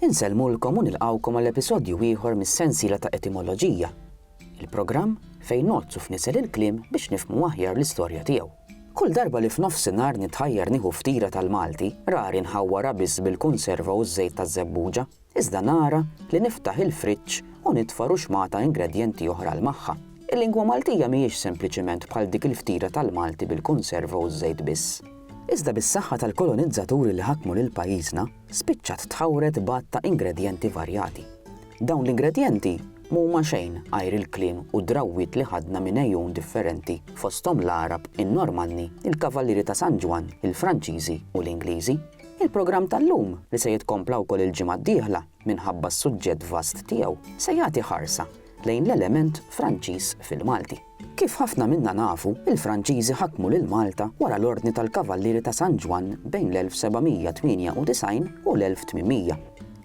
Insellmulkom u nilqgħukom għal episodju ieħor mis-sensiela ta' Etimoloġija, il-programm fejn ngħoddsu f'nisel il-kliem biex nifhmu aħjar l-istorja tiegħu. Kull darba li f'nofsinhar nitħajjar nieħu ftira tal-Malti, rari nħawwarha biss bil-kunserva u ż-żejt taż-żebbuġa, iżda nara li niftaħ il-friġġ u nitfa' ruxmata ingredjenti oħra 'l magħha. Il-lingwa Maltija mhijiex sempliċiment bħal dik il-ftira tal-Malti bil-kunserva u ż-żejt biss. Iżda bis-saħħa tal-kolonizzaturi li ħakmu lil pajjiżna, spiċċat tħawred b'għadd ta' ingredjenti varjati. Dawn l-ingredjenti m'huma xejn għajr il-kliem u d-drawwiet li ħadna minn għejun differenti, fosthom l-Għarab, in-Normanni, il-Kavallieri ta' San Ġwann, il-Franċiżi u l-Ingliżi. Il-programm tal-lum, li se jitkompla wkoll il-ġimgħa d-dieħla minħabba s-suġġett vast tiegħu, se jagħti ħarsa lejn l-element Franċiż fil-Malti. Kif ħafna minna nafu, il-Franċiżi ħakmu lil Malta wara l-Ordni tal-Kavallieri ta' San Ġwann bejn l-1798 u l-1800.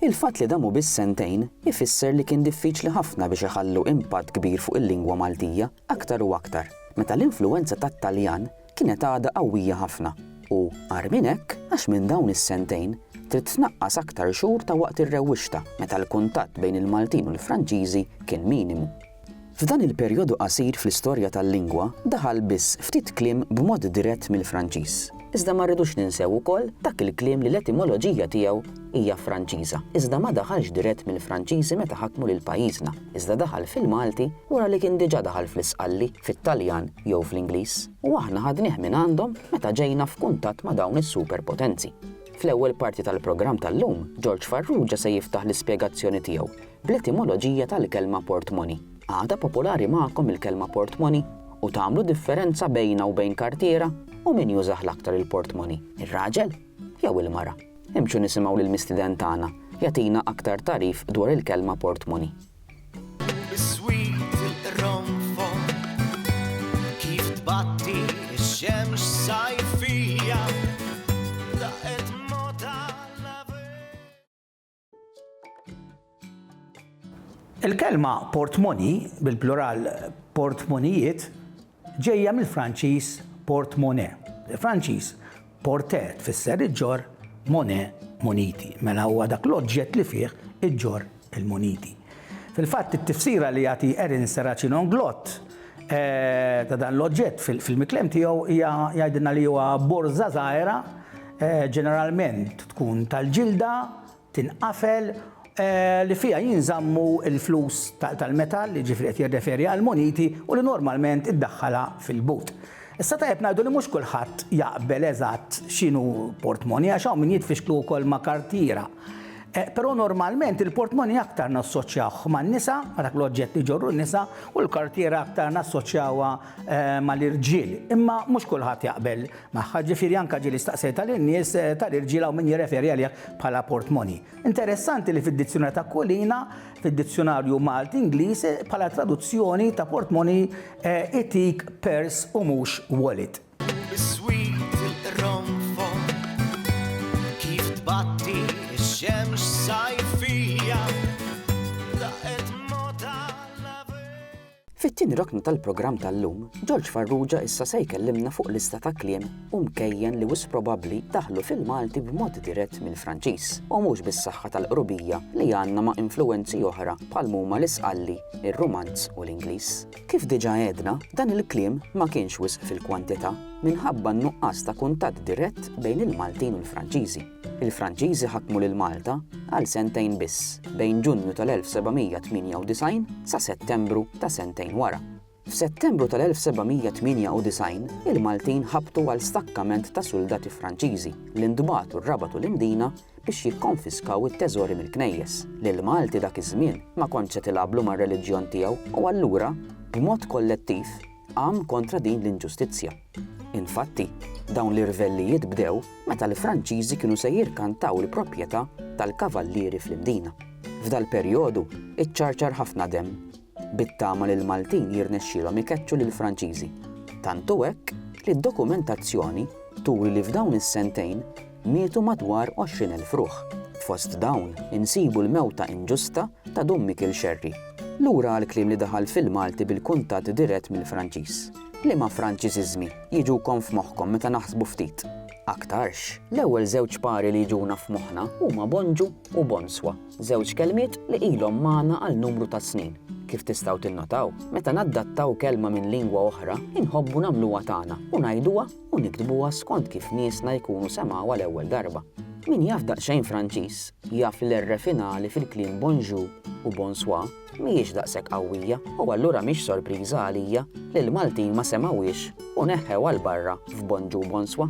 Il-fatt li damu biss sentejn ifisser li kien diffiċli ħafna biex iħallu impatt kbir fuq il-lingwa Maltija aktar u aktar meta l-influwenza tat-Taljan kienet għadha qawwija ħafna u, agħar minn hekk, għax minn dawn is-sentejn trid tnaqqas aktar xhur ta' waqt ir-rewwixta meta l-kuntatt bejn il-Maltin u l-Franċiżi kien minimu. F'dan il-perjodu qasir fl-istorja tal-lingwa daħal biss ftit kliem b'mod dirett mill-Franċiż. Iżda ma rridux ninsew ukoll dak il-kliem li l-etimoloġija tiegħu hija Franċiża, iżda ma daħalx dirett mill-Franċiżi meta ħakmu lil pajjiżna, iżda daħal fil-Malti wara li kien diġà daħal fl-Isqalli, fit-Taljan jew fl-Ingliż, u aħna ħadnih mingħandhom meta ġejna f'kuntatt ma' dawn is-superpotenzi. Fl-ewwel parti tal-programm tal-lum, Ġorġ Farrugia se jiftaħ l-ispjegazzjoni tiegħu bl-etimoloġija tal-kelma portmoni. Għadha popolari magħkom il-kelma portmoni? U tagħmlu differenza bejnha u bejn kartiera? U min jużah l-aktar il-portmoni, ir-raġel jew il-mara? Imxu nisimgħu lill-mistiden tagħna jagħtina aktar tagħrif dwar il-kelma portmoni. Il-kelma portmoni, bil-plural portmonijiet, ġejja mill-Franċiż portmone. Il-Franċiż porte tfisser iġġor mone muniti, mela huwa dak l-oġġett li fih iġġor il-muniti. Fil-fatt, it-tifsira li jagħti Ernst Racinon-Glott ta' dan l-oġġett fil-miklem tiegħu hija jgħidilna li huwa borża żgħira, ġeneralment tkun tal-ġilda, tinqafel, li fiha jinżammu l-flus tal-metall, jiġifieri qed jirreferi għall-muniti, u li normalment iddaħħalha fil-but. Issa tajjeb ngħidu li mhux kulħadd jaqbel eżatt x'inhu portmonnie għax hawn min jitfixklu wkoll ma' kartiera. Però normalment il-portmoney aktar nassoċjawh man-nisa, ma' dak l-oġġett li jġorru n-nisa, u l-kartiera aktar nassoċjawha mal-irġiel. Imma mhux kulħadd jaqbel magħha, ġifieri anke ġieli staqsejtha lin-nies tal-irġiel hawn min jirreferi għalih bħala portmoney. Interessanti li fid-Dizzjunarju ta' Kulina, fid-Dizzjunarju Malti-Ingliż, bħala traduzzjoni ta' portmoney itik purse u mhux wallet. Fit-tieni rokna tal-programm tal-lum, George Farrugia issa se jkellimna fuq lista ta' kliem u mkejjen li wis probabbli daħlu fil-Malti b'mod dirett mill-Franċiż u mhux bis-saħħa tal-qrubija li għandna ma' influwenzi oħra bħal huma l-Isqalli, ir-Rumanz u l-Ingliż. Kif diġà għedna, dan il-kliem ma kienx wisq fil-kwantità minħabba n-nuqqas ta' kuntatt dirett bejn il-Maltin u l-Franċiżi. Il-Franċiżi ħakmu lil Malta għal sentejn biss, bejn Ġunju tal-1798 sa Settembru ta' sentejn wara. F'Settembru tal-1798, il-Maltin ħabtu għal stakkament ta' suldati Franċiżi li ntbagħtu rrabatu l-Imdina biex jikkonfiskaw it-teżori mill-knejjes. Lill-Malti dak iż-żmien ma kontx se tilgħablu mar-reliġjon tiegħu u allura, b'mod kollettiv, qam kontra din l-inġustizzja. Infatti, dawn l-irvellijiet bdew meta l-Franċiżi kienu se jirkantaw il-proprjetà tal-Kavallieri fl-Imdina. F'dal-perjodu iċċarċar ħafna demm. bit-tama li l-Maltin jirnexxielhom ikeċċu lill-Franċiżi. Tant hu hekk li d-dokumentazzjoni turi li f'dawn is-sentejn mietu madwar 20,000 ruħ. Fost dawn insibu l-mewta inġusta ta' Dun Mikil Xerri. Lura għall-kliem li daħal fil-Malti bil-kuntatt dirett mill-Franċiż. Liema Franċiżiżmi jiġukom f'moħħkom meta naħsbu ftit? Aktarx, l-ewwel żewġ pari li jiġuna f'moħħna huma bonġu u bonswa. Żewġ kelmiet li ilhom magħna għal numru ta' snin. Kif tistgħu tinnotaw, meta naddattaw kelma minn lingwa oħra, inħobbu nagħmluha tagħna u ngħiduha u niktbuha skont kif niesna jkunu semgħuha l-ewwel darba. Min jaf daqsxejn Franċiż jaf li l-r finali fil-kliem bonjour u bonsoir mhijiex daqshekk qawwija u allura mhix sorpriża għalija li l-Maltin ma semgħuhiex u neħħewha 'l barra f'bonġu u bonswa.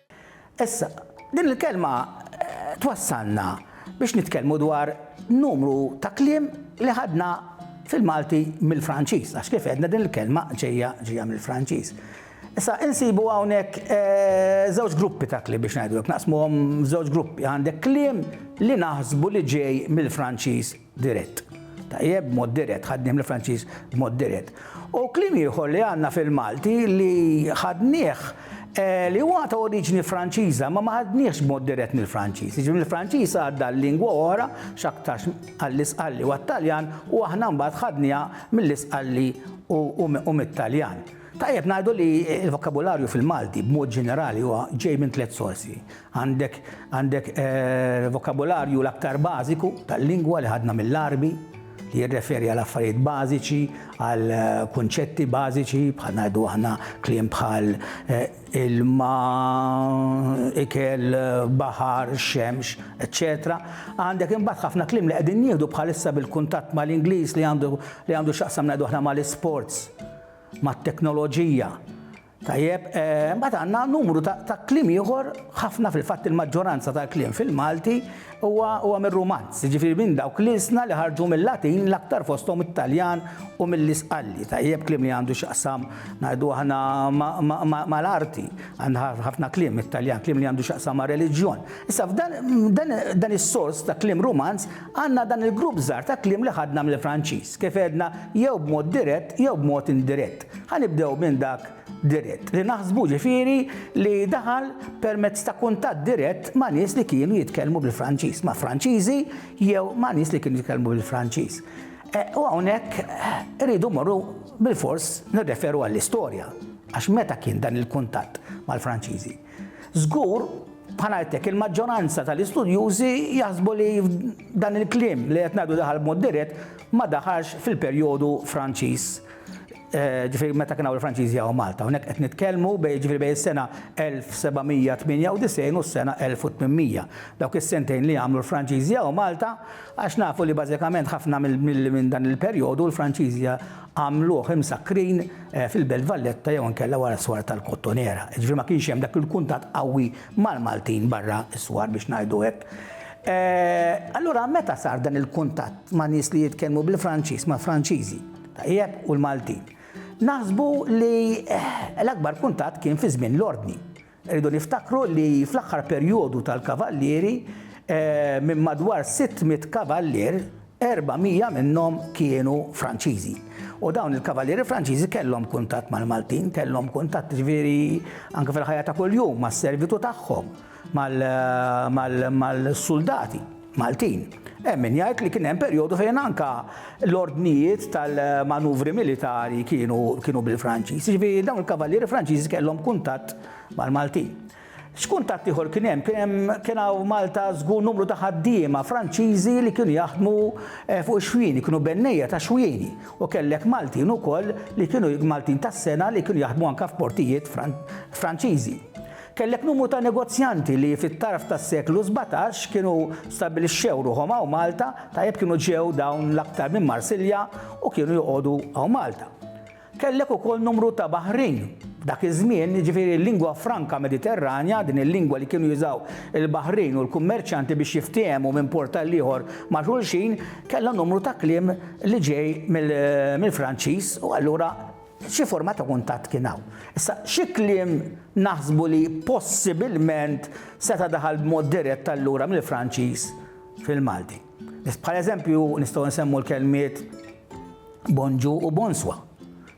Issa, din il-kelma twassalna biex nitkellmu dwar numru ta' kliem li ħadna fil-Malti mill-Franċiż, għax kif għedna din il-kelma ġejja ġejja mill-Franċiż. Issa insibu hawnhekk żewġ gruppi ta' kliem biex ngħidu hekk, naqsmuhom żewġ gruppi. Għandek kliem li naħsbu li ġej mill-Franċiż dirett. Tajjeb, b'mod dirett, ħaddiem l-Franċiż b'mod dirett. U kliem ieħor li għandna fil-Malti li ħadnieh eh, li huwa ta' oriġini Franċiża, ma ma ħadniehx b'mod dirett mill-Franċiż. Jiġifieri l-Franċiż għadda l-lingwa oħra x'aktarx għall-Isqalli u għat-Taljan u aħna mbagħad ħadniha mill-Isqalli u mit-Taljan. Tajjeb ngħidu li l-vokabularju fil-Malti b'mod ġenerali huwa ġej minn tliet sorsi. Għandek għandek vokabularju l-aktar bażiku tal-lingwa li ħadna mill-Għarbi li jirreferi għal affarijiet bażiċi, għal kunċetti bażiċi bħal ngħidu aħna kliem bħal ilma, ikel, baħar, xemx, eċċetera. Għandek imbagħad ħafna kliem li qegħdin nieħdu bħalissa bil-kuntatt mal-Ingliż li għandu li għandu x'jaqsam ngħidu aħna mal-isports, mat-teknoloġija. Tajjeb, mbagħad għandna numru ta' kliem ieħor, ħafna fil-fatt il-maġġoranza tal-kliem fil-Malti huwa huwa mir-Rumanz, jiġifieri minn dawk l-ilsna li ħarġu mil-Latin l-aktar fosthom it-Taljan u mill-Isqalli. Tajjeb, kliem li għandu x'jaqsam ngħidu aħna mal-arti, għandna ħafna kliem mit-Taljan, kliem li għandu x'jaqsam mar-reliġjon. Issa f'dan dan is-sors ta' kliem Rumanz Għandna dan il-grupp żgħar ta' kliem li ħadna mill-Franċiż, kif għedna, jew b'mod dirett jew b'mod indirett. Ħa nibdew minn dak dirett, li naħsbu ġifieri li daħal permezz ta' kuntatt dirett ma' nies li kienu jitkellmu bil-Franċiż, ma' Franċiżi jew ma' nies li kienu jitkellmu bil-Franċiż. E, u hawnhekk irridu morru bil-fors nirreferu għall-istorja, għax meta kien dan il-kuntatt mal-Franċiżi? Żgur, bħal ngħidlek, il-maġġoranza tal-istudjużi jaħsbu li dan il-kliem li qed ngħidu daħal b'mod dirett ma daħalx fil-perjodu Franċiż eh, ġifiri meta kien hawn il-Franċiżi hawn Malta. Hawnhekk qed nitkellmu bej ġifiri bej is-sena 1798 u s-sena 1800. Dawk is-sentejn li għamlu l-Franċiżi hawn Malta għax nafu li bażikament ħafna minn dan il-perjodu l-Franċiżi għamluh imsakkrin fil-Belt Valletta jew inkella wara s-swar tal-Kottonera. Ġifieri ma kienx hemm dak il-kuntatt qawwi mal-Maltin barra s-swar biex ngħidu hekk. Allura meta sar dan il-kuntatt ma' nies li jitkellmu bil-Franċiż mal-Franċiżi, tajjeb, u l-Maltin? Naħsbu li l-akbar kuntatt kien fi żmien l-Ordni. Irridu niftakru li fl-aħħar perjodu tal-kavallieri, minn madwar 600 kavallier, 400 minnhom kienu Franċiżi. U dawn il-kavallieri Franċiżi kellhom kuntatt mal-Maltin, kellhom kuntatt jiġifieri anke fil-ħajja ta' kuljum mas-servitu tagħhom, mal-suldati. Maltin. Hemm min jgħid li kien hemm perjodu fejn anke l-ordnijiet tal-manuvri militari kienu kienu bil-Franċiż. Jiġifieri dawn il-kavallieri Franċiżi kellhom kuntatt mal-Maltin. X'kuntatt ieħor kien hemm? Kien hemm kien hawn Malta żgur numru ta' ħaddiema Franċiżi li kienu jaħdmu eh, fuq ix-xwieni, kienu bennejja ta' xwieni. U kellek Maltin ukoll li kienu Maltin tas-sena li kienu jaħdmu anke f'portijiet Franċiżi. Kellek numru ta' negozjanti li fit-tarf tas-seklu sbatax kienu stabbilixxew ruħhom hawn Malta, tajjeb kienu ġew dawn l-aktar minn Marsilja u kienu joqogħdu hawn Malta. Kellek ukoll numru ta' baħrin. Dak iż-żmien, jiġifieri l-lingwa franka Mediterranja, din il-lingwa li kienu jużaw il-baħrin u l-kummerċjanti biex jiftiehmu minn port għall-ieħor ma' xulxin, kellha numru ta' kliem li ġej mill-Franċiż u allura Xi forma ta' kuntatt kien hawn. Issa, xi kliem naħsbu li possibilment seta' daħal b'mod dirett allura mill-Franċiż fil-Malti. Bħal eżempju nistgħu nsemmu l-kelmiet bonjour u bonsoir.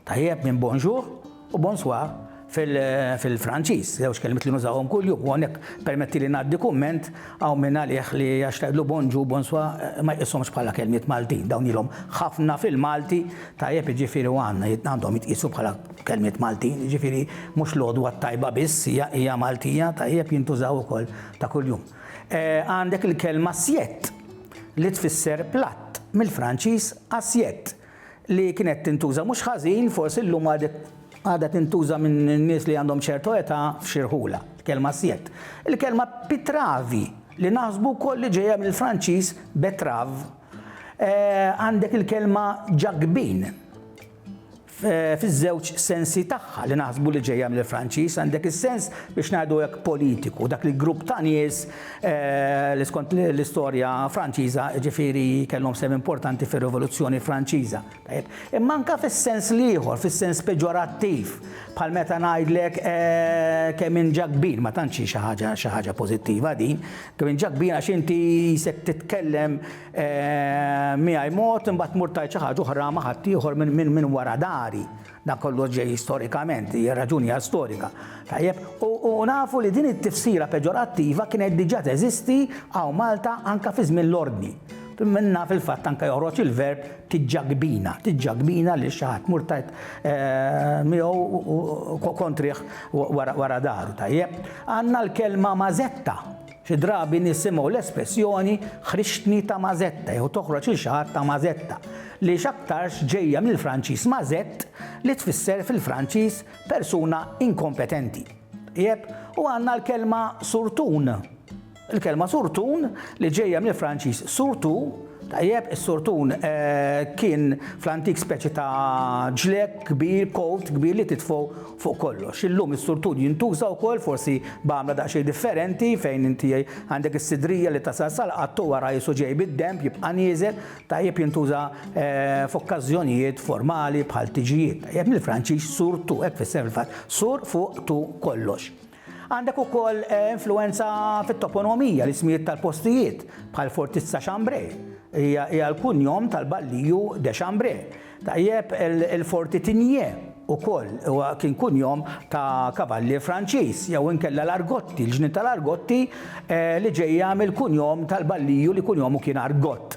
Tajjeb minn bonjour u bonsoir fil-Franċiż, żewġ kelmiet li nużawhom kuljum, u hawnhekk permettili ngħaddi kumment hawn min għalih li għax tgħidlu bonġu, bonswa ma jqishomx bħala kelmiet Maltin, dawn ilhom ħafna fil-Malti, tajjeb jiġifieri u għandna għandhom jitqiesu bħala kelmiet Maltin, jiġifieri mhux l-għodwa t-tajba biss hija hija Maltija, tajjeb jintużaw ukoll ta' kuljum. Għandek il-kelma siett li tfisser platt mill-Franċiż assiette. li kienet tintuża mhux ħażin, forsi llum għadha tintuża minn nies li għandhom ċertu età f'xi rħula, l-kelma assiette. Il-kelma pitravi, li naħsbu wkoll li ġejja mill-Franċiż betterave. Għandek il-kelma ġakbin, fiż-żewġ sensi tagħha li naħsbu li ġejja mill-Franċiż, għandek is-sens biex ngħidu hekk politiku, dak il-grupp ta' nies li skont l-istorja Franċiża ġifieri kellhom sehem importanti fir-Rivoluzzjoni Franċiża. Imma anke fis-sens l-ieħor, fis-sens peġorattiv, bħal meta ngħidlek eh, kemm in ġa kbir, ma tantx xi ħaġa xi ħaġa pożittiva din, kemm in ġa kbir għax inti jisek titkellem eh, miegħi mod imbagħad mur tajt xi ħaġa oħra ma' ħadd ieħor minn wara dari. Dan kollu ġej storikament, hija raġuni għal storika. Tajjeb, u nafu li din it-tifsira peġorattiva kienet diġà teżisti hawn Malta anke fi żmien l-Ordni. Minna fil-fatt anke joħroġ il-verb tiġġagbina, tiġġagbina lil xi ħadd, mur tajt eh, miegħu kontrih wara daru, tajjeb. Għandna l-kelma mażetta, Xi drabi nisimgħu l-espressjoni ħriġtni Tamasetta jew toħroġ lil xi ħadd Tamasetta, li x'aktarx ġejja mill-Franċiż mazette li tfisser fil-Franċiż persuna inkompetenti. Tajjeb, u għandna l-kelma surtun. Il-kelma surtun li ġejja mill-Franċiż surtout, tajjeb, is-surtun kien fl-antik speċi ta' ġlekk kbir, colt kbir li titfgħu Fuq kollox, illum is-surtud jintuża wkoll, forsi b'għamla daqsxejn differenti, fejn inti għandek is-sidrija li tasal sal-qatt u wara qisu ġej bid-denb jibqa' nieżel, tajjeb jintuża f'okkażjonijiet formali bħal tiġijiet, tajjeb mill-Franċiż surtout, hekk tfisser fil-fatt, sur fuq tout kollox. Għandek ukoll influwenza fit-toponimija, l-ismijiet tal-postijiet, bħal Fortizza Chambray, hija l-kunjom tal-balliju de Chambray. Tajjeb, il-Forti Tigné ukoll huwa kien kunjom ta' kavallier Franċiż, jew inkella l-Argotti, il-ġnien tal-Argotti li ġejja mill-kunjom tal-balliju li kunjomu kien Argott.